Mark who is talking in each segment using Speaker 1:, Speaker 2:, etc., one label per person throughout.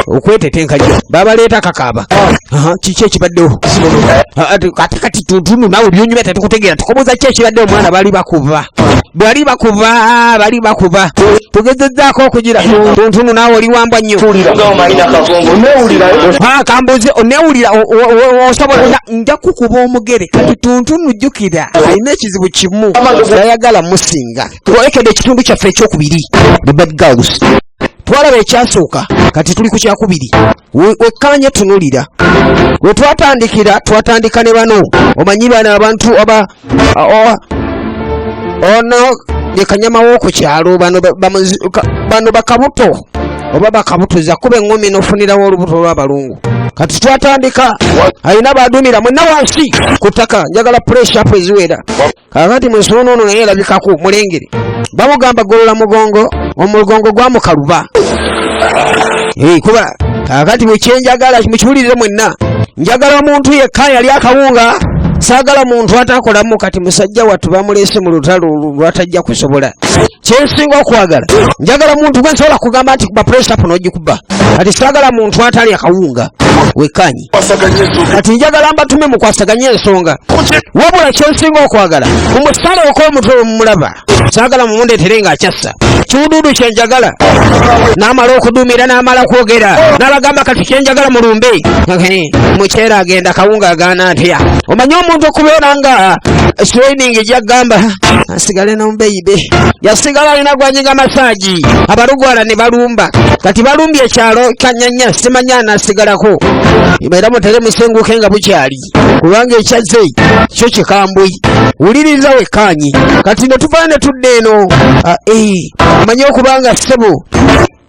Speaker 1: okwetetenka nnyo babaleeta kakaaba kiki ekibaddewo ate kati tuntunu nawe byonyumya tetukutegeera tukoboza ki ekibaddewo omwana bali bakuba bali bakuba bali bakuba tugezezzaako okugira tuntunu nawe oli wambwa nnyo kambuze onewulira osobola nja kukuba omugere kati tuntunu jjukira alina ekizibu kimu ayagala musinga twolekede ekitundu kyaffe ekyokubiri the bad girls twalaba ekyasooka kati tuli ku kyakubiri wekkaanye tunulira we twatandikira twatandika ne bano omanyi bano abantu aba ono ye kanyama w'oku kyalo bano bakabuto oba bakabutuza kuba eŋŋumi n'ofunirawo olubuto olw'abalungu kati twatandika alina baduumira mwenna wansi ku ttaka njagala pureshapu eziwera kakati mu nsonda ono naye erabikako mulengere bamugamba golola mugongo omugongo gwamukaluba kuba kakati mukyenjagala mukiwulirire mwenna njagala omuntu yekka yali akawunga saagala muntu atakolamu kati musajja wattu bamuleese mu lutalo lwatajja kusobola kyensinga okwagala njagala muntu gwe nsobola kugamba nti kuba puresitapu n'ogikuba kati saagala muntu atali akawunga wekkanyi kati njagala mbatume mukwasaganye ensonga wabula kyensinga okwagala mumusale okomutwe wemumulaba sagala mumundetere nga akyassa kiwuduudu kyenjagala namala okuduumira namala kwogera nabagamba kati kyenjagala mulumbe mukyera agenda kawunga agaana atya omanyi omuntu okubeera nga swining gyagamba asigale nombeyibe yasigala alina gwanyiga masaji abalugwala ne balumba kati balumbye ekyalo kanyanya simanya anasigalako era mutere musenguke nga bukyali kubanga ekyazze kyo kikambwe wuliriza wekkaanyi kati ne tuvayo ne tudda eno ah, eh, manye okubanga ssebo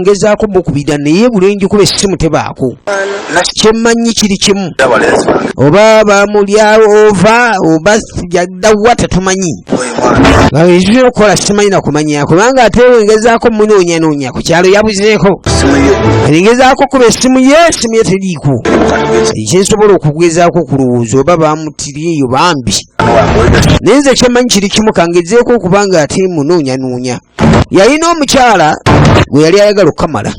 Speaker 1: ngezaako mukubira naye bulenji kuba essimu tebaako kyemmanyi kiri kimu oba bamulyawo ova oba yaddawa tetumanyi ekitulina okukola simanyi nakumanya kubanga ate wengezaako munoonyanoonya ku kyalo yabuzeeko engezaako kuba essimu ye essimu ye teriiko ekyensobola okugezaako okulowooza oba bamutiri eyo bambi naye nze kyemmanyi kiri kimu kangezeeko okubanga ate munoonyanoonya yalina omukyala gwe yali ayagala okukamala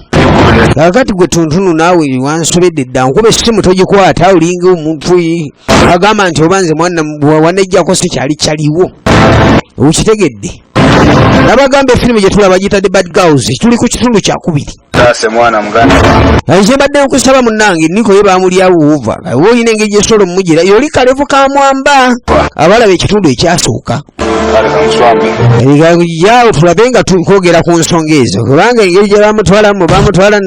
Speaker 1: kakati gwe tuntunu naawe wansobedde dda nkuba essimu togikwata olinga omuntu agamba nti oba nze mwana wanejjako si kyali kyaliwo okitegedde nabagambe efirimu gyetulaba gitadde bad girls tuli ku kitundu kyakubiri taase mwana muganda naye kyembadde nkusaba munnange niko ye baamulyawo wuva oba olina engeri gyesobola omumugira yoli kalevu ka mwamba abalaba ekitundu ekyasooka yawo tulabe nga twogera ku nsonga ezo kubanga engeri gye bamutwalamu bamutwala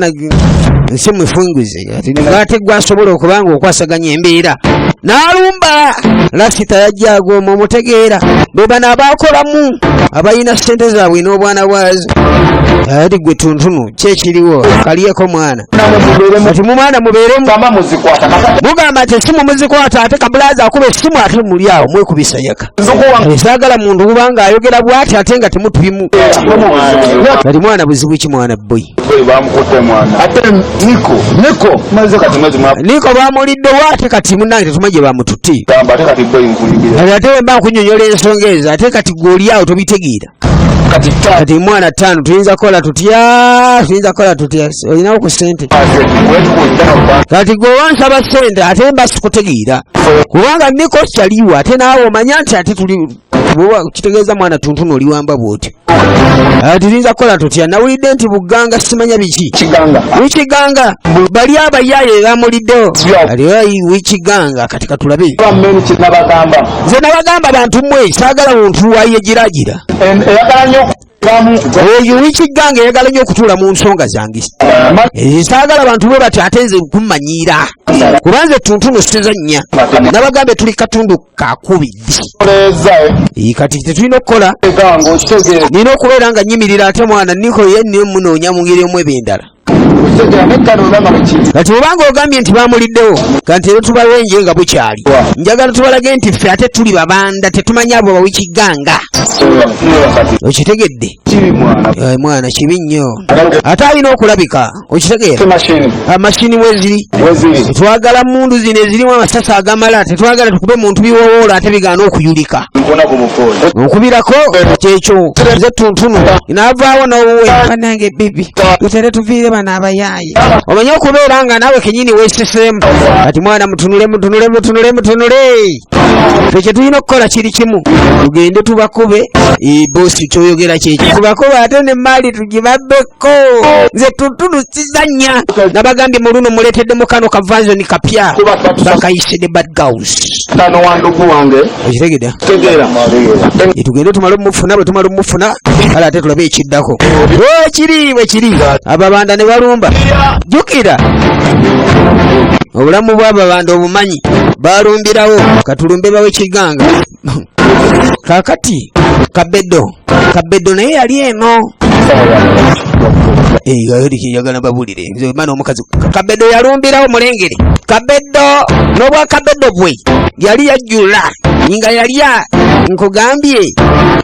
Speaker 1: nsi mufunguze omugaati gwasobola okuba nga okwasaganya embeera n'alumba lasita yajja agooma omutegeera be bano abaakolamu abalina ssente zaabwe n'obwana bwazi ati gwe tuntunu kyekiriwo kaliyeko mwana kati mumwana mubeeremu mugamba nti esimu muzikwata ate kabulazi akuba esimu ate muli awo mwekubisa yaka sagala muntu kubanga ayogera bwati ate nga temutubimu kati mwana buzibu ki mwana boy niko bamulidde wate kati munange tetuma gye bamututte ate wemba nkunyonyola ensonga ezo ate kati gweolyawo tobitegeera kati mwana tano tuyinza kola tutya tuyinza kola tutya olinawo ku sente kati gwe wansaba sente ate basikutegeera kubanga niko kyaliwo ate naawe omanya nti ate tuli kitegeeza mwana tuntunu oliwamba bwotyo ah, tuyinza kola tutya nawulidde nti buganga simanya biki wikiganga bali abayaye bamuliddewo ali wikiganga katulabe nze nabagamba bantu mwe saagala muntu wayegiragira oyo wikiggange eyagala nyo okutuula mu nsonga zange eh, saagala bantu bwe bati ate nze kumanyiira kubanze tuntuno sizannya nabagambe tuli katundu kakubiddi eh, kati tetulina okukola nina okubeera nga nyimirira ate mwana niko ye niyo munoonya mu ngeri omu ebendala kati obanga ogambye nti bamuliddewo kanti ero tubawenje nga bukyali njagala tubalage nti ffe ate tuli babanda tetumanyi abo bawikiganga okitegedde eh, mwana kibi nnyo ate alina okulabika okitegeera amashini ah, weziri twagala mundu zino ezirimu amasasi agamala tetwagala tukube muntu biwowoola ate bigaana okuyulika okubirako kyekyo ze tuntunu navaawo nowuwe banange bibi tutere tuviire bano abayaaye omanye okubeera nga naawe kenyini weeseseemu kati mwana mutunule mutunule mutunule mutunule fe kye tulina okukola kiri kimu tugende tubakube bosi kyoyogera kyekyo tubakube ate ne maali tugibabbeko nze tutulukizanya nabagambye mu luno muleetedde mukano kavanzoni kapya bakayise ne bad gaus okitegedea tegeera e tugende tumale omufuna bwe tumala omufuna kale ate tulabe ekiddako wekiri wekiri ababanda ne balumba jukira obulamu bw'ababanda obumanyi balumbirawo katulumbe bawe kiganga kakati kabedo kabedo naye yali eno eyayolikinjagala babulire ebyo bimana omukazi kabedo yalumbirawo mulengere kabedo n'obwa kabedo bwe yali yajjula nga yalya nkugambye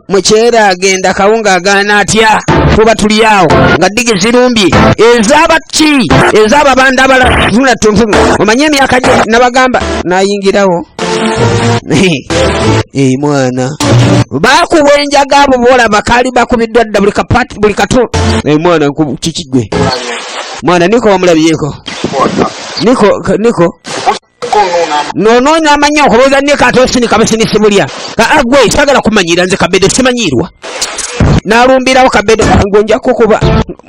Speaker 1: mukyera agenda kawunga agaana atya kuba tuli awo nga digi zirumbye ezabaki ezababanda abala zula tuntu omanye emyaka gye nabagamba nayingirawo Eyi mwana bakuwa enjaga abo boolaba kaali bakubiddwa dda buli kapati buli katu eyi mwana kiki gwe mwana niko wamulabyeko niko niko nonoonya amanyi okulowooza niko ate osinika businisi bulya agwe ah, ah, sagala kumanyira nze kabedo simanyiirwa nalumbirawo kabedo ngonja kukuba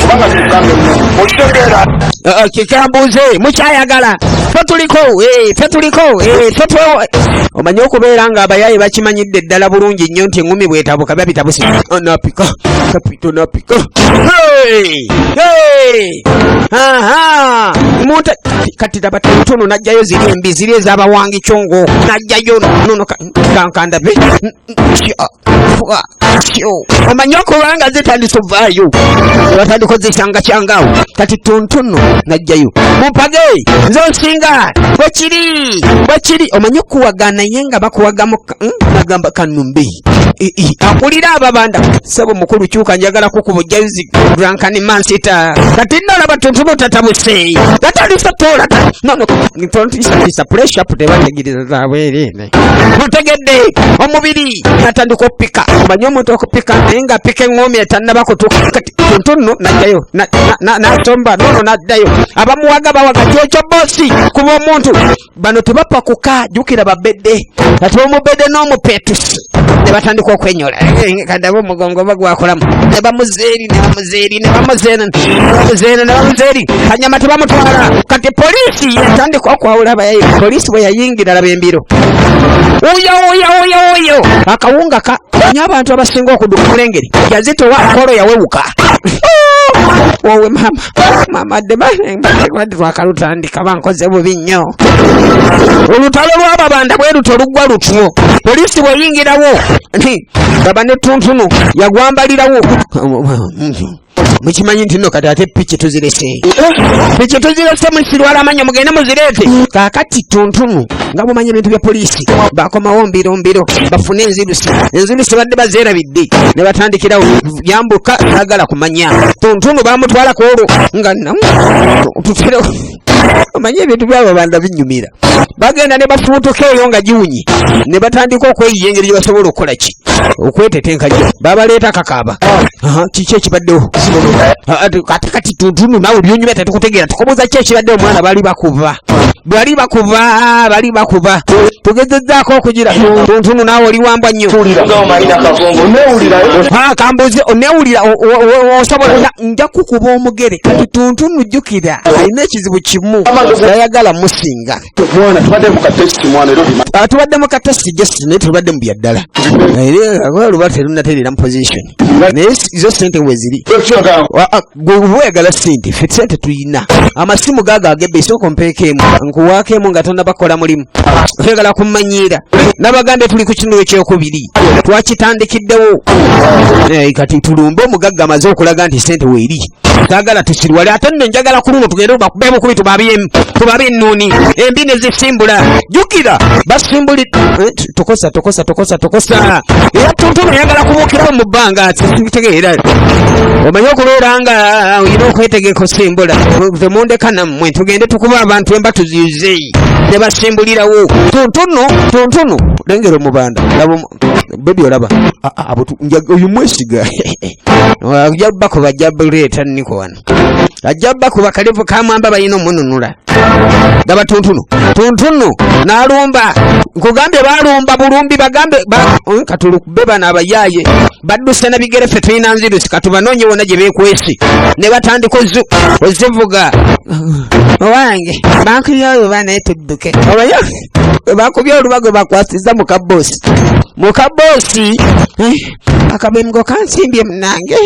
Speaker 1: kubanga kikugambye okitegeera uh, kikyambuuze mukyayagala fe tuliko eh, fe tuliko eh, fe twewa omanyi okubeera nga abayaaye bakimanyidde ddala bulungi nnyo nti eŋumi bwetabuka biba bitabuse anapika kapito napika munte kati laba tuno najjayo ziri embi ziri ezabawangi congo najjayo nono kankandabe omanyi okubanga zitandise ovaayo batandika ozisanga kyangawo kati tuntuno najjayo mumpage nze nsinga bwekiri bwekiri omanyi okuwaga naye nga bakuwagamu hmm? nagamba kanumbi akulira ababanda sebo mukulu kyuka njagala kukubujjayo zi grankani mansita kati nalaba tuntuno tatabuse tatandise tola nono tontisapuleshapu tebategiriza zabwerere otegedde omubiri natandika okupika omanyi omuntu okupika naye nga pika eŋoomi etannaba kutuuka kati tuntu nno najjayo nasomba nono naddayo abamuwaga bawaga kyekyo bosi kuba omuntu bano tebapakuka jukira babedde ati omubedde n'omupetusi ne batandika okwenyola eh, eh, kadabe omugongo oba gwakolamu ne bamuzeeri ne bamu zeri ne bamuzena bamuzena ne bamuzeri hanyuma tebamutwala kati polisi yatandika okwawula abayayi polisi bwe yayingira laba embiro uyo uyo uyo uyo akawunga ka nyo abantu abasinga okuduka omulengeri yazitowa akolo yawewuka wowe mama mama debakalutandika bankoze bubi nnyo olutalo lwababanda bwe luto luggwa lutyo polisi bweyingirawo baba ne tuntunu yagwambalirawo mukimanyi nti no kati ate piki tuzirese piki tuzirese musirwala amanyo mugende muzireete kakati tuntunu nga mumanyi ebintu bya poliisi bakomawo mbiro mbiro bafune enzirusi enzirusi badde bazerabidde ne batandikirawo yambuka sagala kumanya tuntunu bamutwalako olwo nga namu tutire omanyi ebintu byabo banda binyumira bagenda ne bafuutuka eyo nga giwunyi ne batandika okweyiya engeri gye basobola okukola ki okwetetenkagyo babaleeta kakaaba kiki ekibaddewo ate kati tuntunu nawe byonyumya tetukutegeera tukobuuza ki ekibaddewo omwana bali bakuba bali bakuba bali bakuba tugezezzaako okugira tuntunu nawe oli wambwa nnyo kambuuze onewulira osobola nja kukuba omugere kati tuntunu jjukira alina ekizibu kimu yayagala musinga tubadde mu katesi just naye tubadde mu byaddala luba terunatereera mu position naye zo sente weziri weyagala sente fe sente tuyina amasimu gago agebbe esooka ompeekeemu nkuwaako emu nga tanabakola mulimu twegala kumanyiira nabagambye tuli ku kinulo ekyokubiri twakitandikiddewo eh, kati tulumbe omugagga amaze okulaga nti sente weeri sagala tusirwale ate nno njagala ku luno tugende bakube bukubi tubabyemu tubabe ennuuni embi ne zisimbula jukira basimbuli eh, tokosa tokosa tokosa tokosa era tuntuna yagala kubukirawo mu bbanga tegeera omanyi okubeera nga olina okwetegeka osimbula temundeka nammwe tugende tukuba abantu emba tuziyuzeyi bambi ne basimbulirawo tuntunu tuntunu lengera omubanda laba bebi olaba ah, ah, oyo mwesiga ajja bakuba ajja buleeta niko wano ajja bakuba kalevu kamwamba balina omununula gaba tuntunu tuntunu nalumba nkugambye balumba bulumbi bagambe eh, katulukube bano abayaye badduse na bigere ffe tulina nzirusi katubanoonye wona gye beekwesi ne batandika ozu ozivuga owange bankubye oluba naye tudduke obayo bakubye oluba gwe bakwasiza mu kaboosi mu kaboosi eh, akabemgo kansimbye munange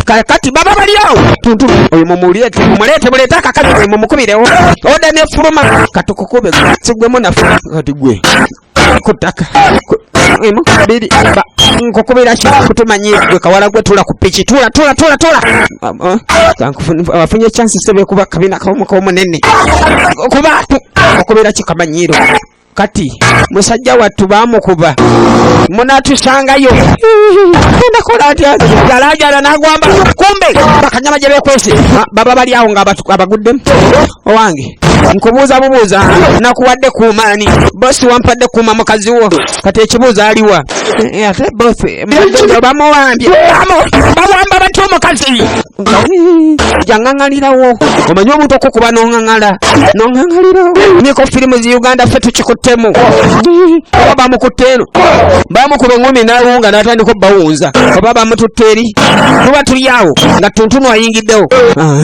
Speaker 1: kakati baba baliawo tuntu oyo mumuleete mumuleete muleete akakazi gwe mumukubirewo oda nefuluma katukukube sigwemu nafu kati gwe ku ttaka emu bbiri ba nkukubira ki kutumanyi gwe kawala gwe tula ku piki tula tula tula tula afunye chansi sebe kuba kabina kawomuka omunene kuba okubira ki kamanyiiro kati musajja wattu bamukuba munatusangayo endakola nti jalajala nagwamba kumbe bakanyama gyebekwese baba bali awo nga abaguddemu owange nkubuuza bubuuza nakuwadde kuumaani bosi wampadde kuuma mukazi wo kati ekibuuzo aliwa eh, ate bosi bamuwambye bawamba bati omukazi jangangalirawo omanyi omuntu okukuba nongangala nongangalirawo niko firimu zi uganda fe tukikuttemu oba bamukutte eno bamukuba engumi nawunga natandika obbawunza oba bamututte eri tuba tuli awo nga tuntunu ayingiddewo ah.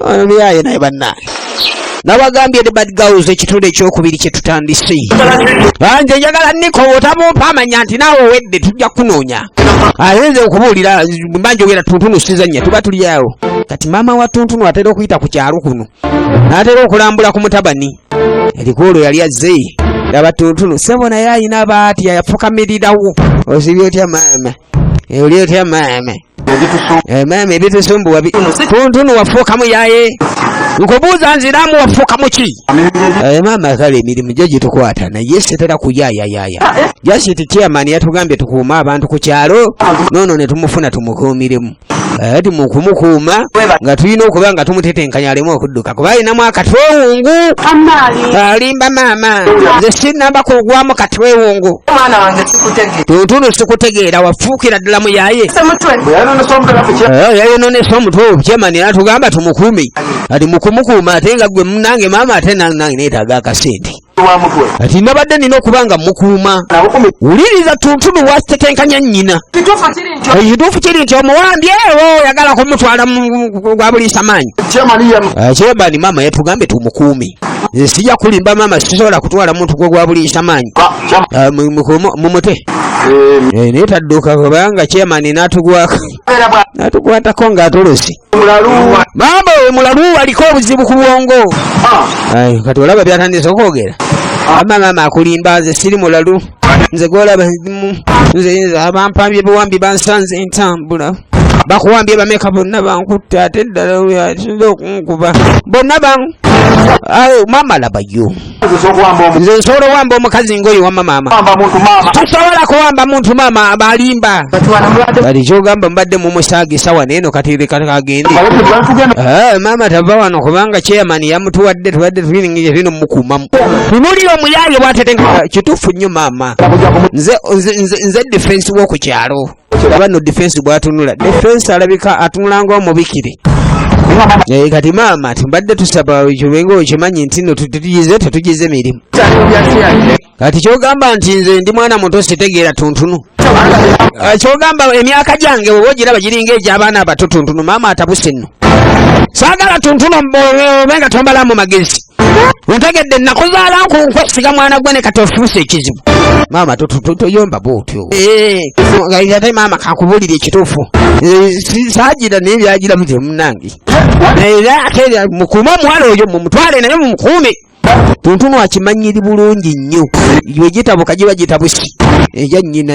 Speaker 1: Ono muyaye naye bannange. Nabagambye the bad girls ekitundu ekyokubiri kye tutandise. Banje njagala niko otamumpa amanya nti naawe owedde tujja kunoonya. Ate nze okubuulira mba njogera tuntunu sizannya tuba tuli awo. Kati maama wa tuntunu atera okuyita ku kyalo kuno. N'atera okulambula ku mutabani. Erikoolo yali azze. Yaba tuntunu sebo naye alina baati yafukamirirawo. Ozibye otya maama? oli otya maama eh, maama ebitusumbuwa kuntunu wafuukamu yaye nkubuuza nziramu wafuukamu ki eh, maama kale emirimu gyo gitukwata naye sitera kuyayayaya jasiti chairman yatugambye tukuume abantu ku kyalo noono ne tumufuna tumukuumiremu ati eh, mukumukuuma nga tulina okuba nga tumutetenkanya alemu okudduka kuba alinamu akatwewungu alimba maama nze sinamba kugwamu katwewungu tuntunu sikutegeera wafuukira ddala muyaye eh, yayononesa omutwe obukyemani era tugamba tumukuumi ati mukumukuuma ate nga gwe munange maama ate nange netaga akasente kati nabadde nina okuba nga mukuuma wuliriza tuntunu wasitetenkanya nnyina ekituufu kiri nti omuwambye ewo oyagala kumutwala gwa buliisa maanyi kyebani eh, maama yatugambye tumukuumi nze sijja kulimba maama sisobola kutwala muntu gwe gwa buliisa maanyi eh, mumute eh, naye tadduka kubanga kyemani natugwako natukwatako ng'atolosi maama oyo mulalu aliko obuzibu ku bwongo ah. kati olaba byatandise okwogera ah. ama maama akulimba nze siri mulalu nze gwolaba nze abampambye biwambi bansanze entambula bakuwambye bameka bonna bankutte ate ddala oyo asinze okunkuba bonna ban maama labayo nze nsobola owamba omukazi ngoyo wama maama tusobola kuwamba muntu maama abalimba bali kyogamba mbadde mumusaaga esawa neeno katerekakagende eh, maama tava wano kubanga chairman yamutuwadde tubadde tulingiye tino mukumamu tunulira omuyaye bwatetenka kituufu nnyo maama nze defense wokukyalo aba no defense bwatunula defense alabika atunula nga omubikire naye kati maama timbadde tusaba kibenga okimanyi nti no tutugize tetugize mirimu kati kyogamba nti nze ndi mwana muto sitegeera tuntunu ah, kyogamba emyaka gyange oba ogiraba giringa egyabaana abato tuntunu maama atabuse nno saagala tuntunu obe nga tombalamu magezi ontegedde nakuzaala nkunkwe siga mwana gwe ne kati ofuuse ekizibu maama toyomba bwotyo eh, ate maama kakubuulira ekituufu eh, saagira naye byagiramu gye munange era ate mukuume omuwala oyo mumutwale naye mumukuume tuntunu akimanyiri bulungi nnyo yegitabuka giba gitabusi eya eh, nyina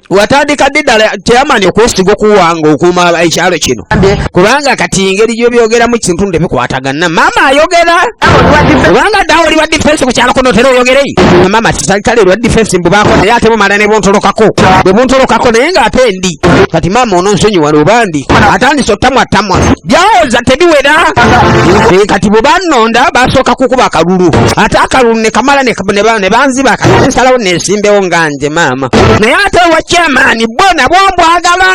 Speaker 1: watandika ddi ddala teyamani okwesiga okuwanga okuuma ekyalo kino kubanga kati engeri gyobyogeramu kintunde bikwatagana maama ayogera kubanga ddawo oli wa difensi ku kyalo kunotera oyogerei maama titalitale lwa difensi mbubako naye ate bumala ne buntolokako bwe buntolokako naye nga ate ndi kati maama ononsonyiwa lubandi atandise otamwatamwa byawoza tebiwera eh, kati bwebanonda basooka kukuba akalulu ate akalulu nekamala nebanziba kati nsalawo nesimbewo nganje maama naye ate owa kyamaani bwo nabwo mbwagala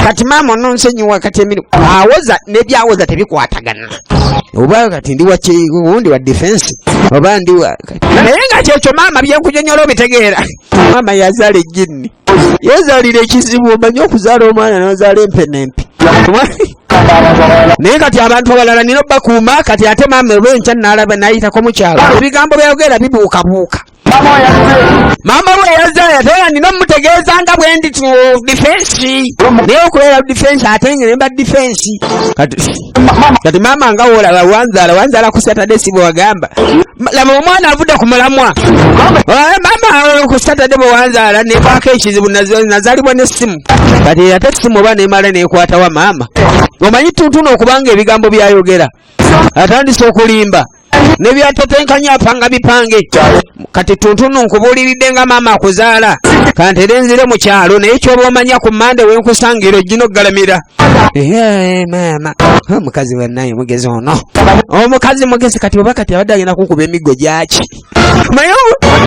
Speaker 1: kati maama ononsonyiwa kati emirimu awoza nebyawoza tebikwatagana oba kati ndi wakiwundi wa defense oba ndi wa naye nga kyekyo maama byenkunyonyola obitegeera maama yazala ejinni yezalira ekizibu omanyi okuzaala omwana nozaala empenempi naye kati abantu abalala nina obakuuma kati ate maama olwenkya nalaba nayitako mukyalo ebigambo byayogera bibuukabuuka maama we yazaya tera nina omutegeeza nga bwe ndi tu difensi naye okubeera difensi ate nga nemba difensi kati maama nga wolaba wanzaala wanzaala ku satade si bwewagamba laba omwana avudde ku mulamwa maama ku satade bwe wanzaala nekwako ekizibu nazalibwa nesimu kati era te simu oba nemala nekwatawa maama omanyi tuntuna okubanga ebigambo byayogera atandise okulimba nebyatetenkanya apanga bipange kati tuntunu nkubuuliridde nga maama akuzaala kantere nzire mu kyalo naye kyoba omanya ku mande wenkusangira ojjina okugalamira maama omukazi wenaye mugezi ono omukazi mugezi kati oba kati abadde agenda kukuba emiggo gyaki naye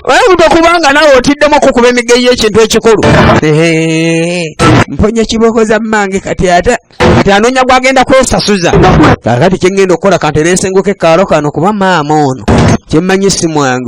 Speaker 1: oyinza okubanga nawe otiddemu okukuba emiggo yekintu ekikulu mponya kibooko za mmange kati ate kati anoonya gwagenda kwesasuza kakati kyengenda okukola kanteresengoke kaalo kano kuba maama ono kyemmanyi si mwangu